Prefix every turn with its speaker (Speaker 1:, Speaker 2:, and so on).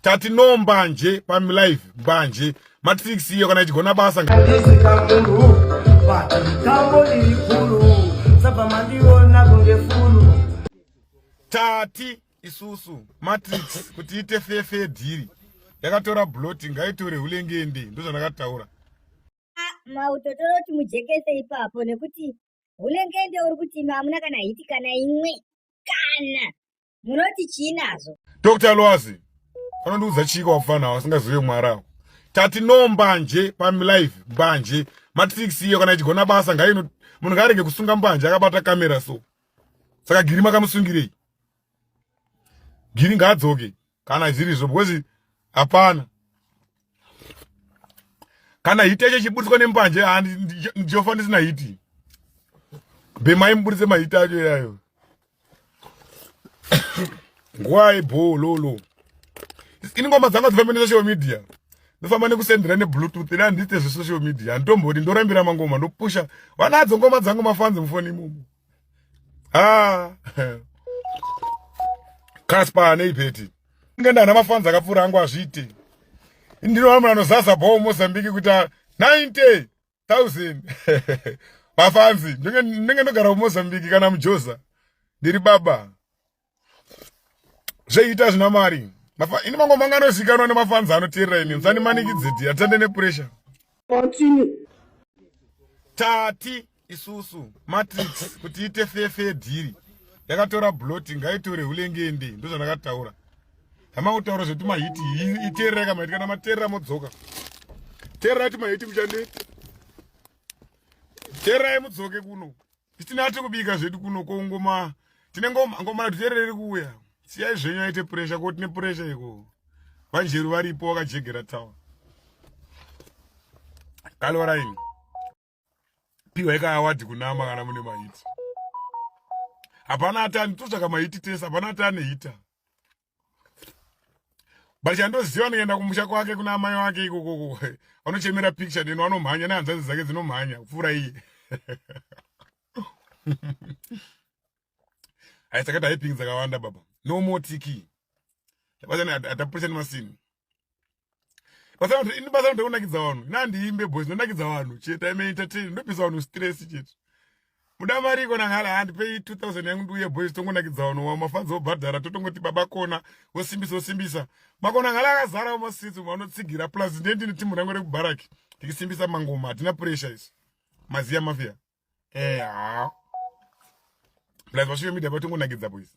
Speaker 1: tati no mbanje pamlive mbanje matrix iyo kana ichigona basa tati isusu matrix kuti ite fefe dhiri yakatora bloti ngaitore hulengende ndozvandakataura
Speaker 2: mautotoro kuti mujekese ipapo nekuti hulengende uri kuti imwe hamuna kana hiti kana imwe kana Munoti chii nazvo? Dr. Lwazi,
Speaker 1: anondiudza chii kwakufana wasingazive mwari ako. Tati no mbanje pamilife mbanje matrix iyo kana ichigona basa ngaino munhu ngaarege kusunga mbanje akabata kamera so. Saka giri makamusungirei? Giri ngaadzoke kana zvirizvo because hapana kana hiti yacho ichiburitswa nembanje ndichofa ndisina hiti bhemai muburitse mahiti acho iyayo nguva yebhoo lolo ini ngoma dzanga dzifamba nesocial media ndofamba nekusendera nebluetooth ina handite zvesocial media handitombodi ndorambira mangoma ndopusha vanadzo ngoma dzangu mafanzi mufoni imomo ah Casper ane ipeti ngenda ana mafans akapfura angu azviite ndinoona munhu anozaza bho Mozambique kuti 90 1000 vafanzi ndinge ndogara mumozambique kana mujoza ndiri baba zveita zvina mari ini mango manga anozikanwa nemafanzi anoteerera ini musanimanikidze ti atande nepuresha tati isusu matrix kuti ite fefe dhiri yakatora bloti ngaitore hulengende ndozvandakataura hamangutaura zvekuti mahiti iteerera kamahiti kana mateerera modzoka teerera ti mahiti kuchanete teererai mudzoke kuno Titina tiri kubika zvedu kuno ko ngoma tine ngoma ngoma tuterere kuuya. Siyai zvenyu aite pressure ko tine pressure iko. Vanjeru varipo wakajegera town. Kalwaraini. Piwa ika award kunama kana mune mahiti. Hapana atani totsvaka mahiti tese hapana atani hita. but chandoziva anoenda kumusha kwake kuna amai wake ikokoko anochemera picture deno anomhanya nehanzvadzi dzake dzinomhanya kupfuura iye hai saka typing dzakawanda baba no more tiki tabatani atapurisa nemasini basakuti ini basa kuti unakidza vanhu ina ndiimbe boys ndonakidza vanhu chete ime entertain ndopisa vanhu stress chete muda mari ikona ngala handipei 2000 yangu ndiuye boys tongonakidza vanhu wa mafanzi obhadhara totongoti baba kona wosimbisa wosimbisa makona ngala akazara masitsi umwe anotsigira plus ndiye ndine timu rangu rekubharaki tikisimbisa mangoma hatina pressure isu maziya mafia eha plus vasvike media vatongonakidza boys